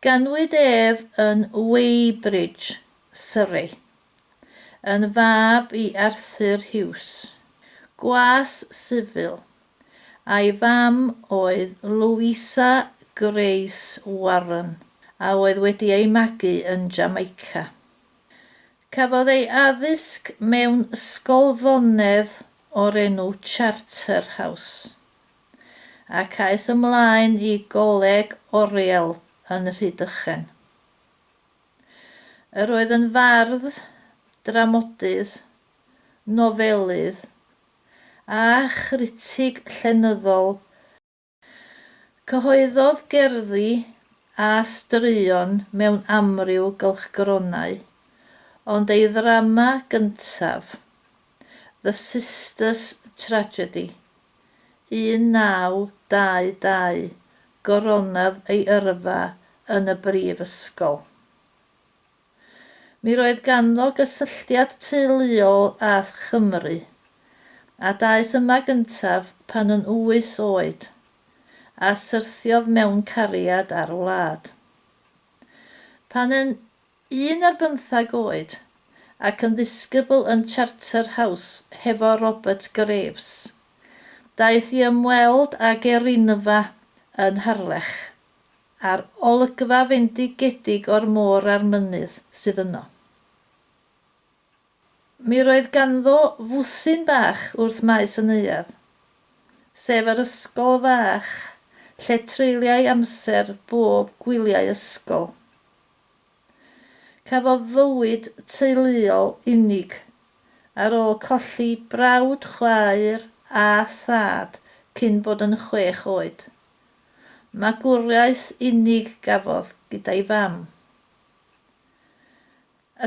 Ganwyd ef yn Weybridge, Surrey, yn fab i Arthur Hughes, gwas sifil, a'i fam oedd Louisa Grace Warren a oedd wedi ei magu yn Jamaica. Cafodd ei addysg mewn ysgolfonedd o'r enw Charterhouse. ac aeth ymlaen i Goleg Oriel yn Rhydychen. Yr oedd yn fardd, dramodydd, nofelydd, a chritig llenyddol. Cyhoeddodd gerddi a straeon mewn amryw gylchgronau, ond ei ddrama gyntaf, The Sisters' Tragedy, 1922, goronodd ei yrfa yn y Brifysgol. Mi roedd ganddo gysylltiad teuluol â Chymru, a daeth yma gyntaf pan yn wyth oed, a syrthiodd mewn cariad â'r wlad. Pan yn Un ar bymtheg oed, ac yn ddisgybl yn Charterhouse hefo Robert Graves. Daeth i ymweld ag erinfa yn Harlech, a'r olygfa fendigedig o'r môr a'r mynydd sydd yno. Mi roedd ganddo fwthyn bach wrth maes y neuadd, sef yr ysgol fach lle treuliai amser bob gwyliau ysgol. Cafodd fywyd teuluol unig ar ôl colli brawd, chwaer a thad cyn bod yn chwech oed. Magwraeth unig gafodd gyda'i fam.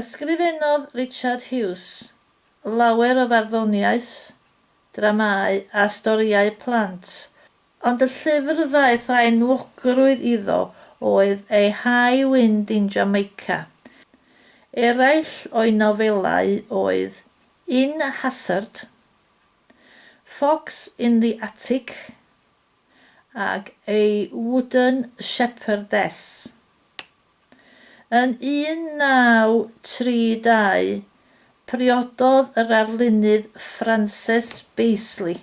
Ysgrifennodd Richard Hughes lawer o farddoniaeth, dramâu a storïau plant Ond y llyfr ddaeth â enwogrwydd iddo oedd ei High Wind in Jamaica. Eraill o'i nofelau oedd In Hazzard, Fox in the Attic ac A Wooden Shepherdess. Yn 1932, priododd yr arlunydd Frances Baseley,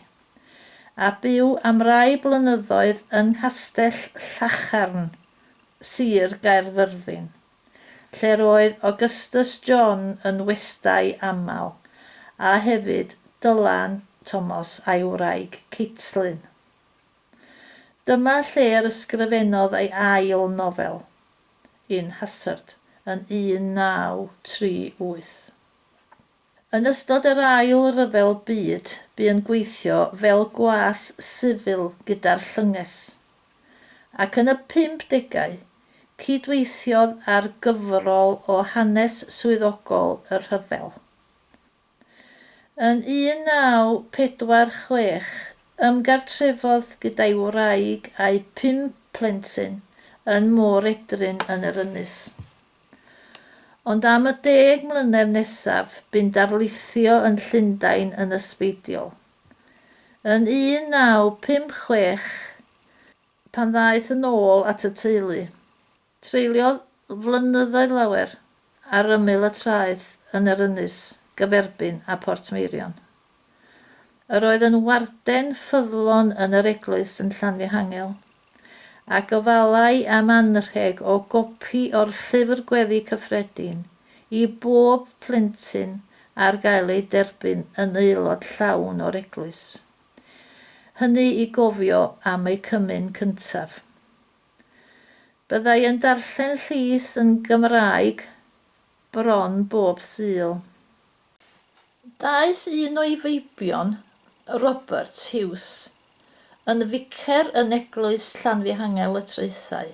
a byw am rai blynyddoedd yng Nghastell Llacharn, Sir Gaerfyrddin, lle'r oedd Augustus John yn westai aml, a hefyd Dylan Thomas a'i wraig Caitlin. Dyma lle yr ysgrifennodd ei ail nofel, In Hazard, yn 1938. Yn ystod yr Ail Ryfel Byd bu yn gweithio fel gwas sifil gyda'r Llynges, ac yn y pump degau, cyd-weithiodd ar gyfrol o hanes swyddogol y rhyfel. Yn 1946, ymgartrefodd gyda'i wraig a'u pum plentyn yn Môr Edryn yn yr Ynys. Ond am y deg mlynedd nesaf, bu'n darlithio yn Llundain yn ysbeidiol. Yn 1956, pan ddaeth yn ôl at y teulu, Treuliodd flynyddoedd lawer ar ymyl y traeth yn yr ynys gyferbyn â Portmeirion. Yr oedd yn warden ffyddlon yn yr eglwys yn Llanfihangel, a gofalai am anrheg o gopi o'r Llyfr Gweddi Cyffredin i bob plentyn ar gael ei derbyn yn aelod llawn o'r eglwys, hynny i gofio am eu cymyn cyntaf. Byddai yn darllen llys yn Gymraeg bron bob Sul. Daeth un o'i feibion, Robert Hughes, yn ficer yn Eglwys Llanfihangel y Traethau.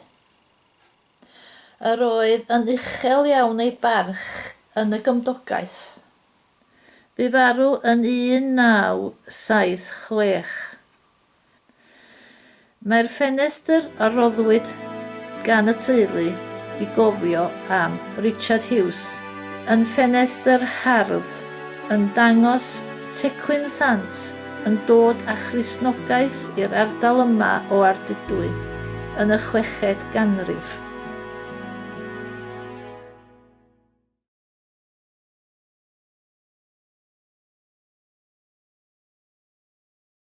Yr oedd yn uchel iawn ei barch yn y gymdogaeth. Bu farw yn 1976. Mae'r ffenestr a roddwyd gan y teulu i gofio am Richard Hughes yn ffenestr hardd yn dangos Tecwyn Sant yn dod â Christnogaeth i'r ardal yma o Ardudwy yn y chweched ganrif.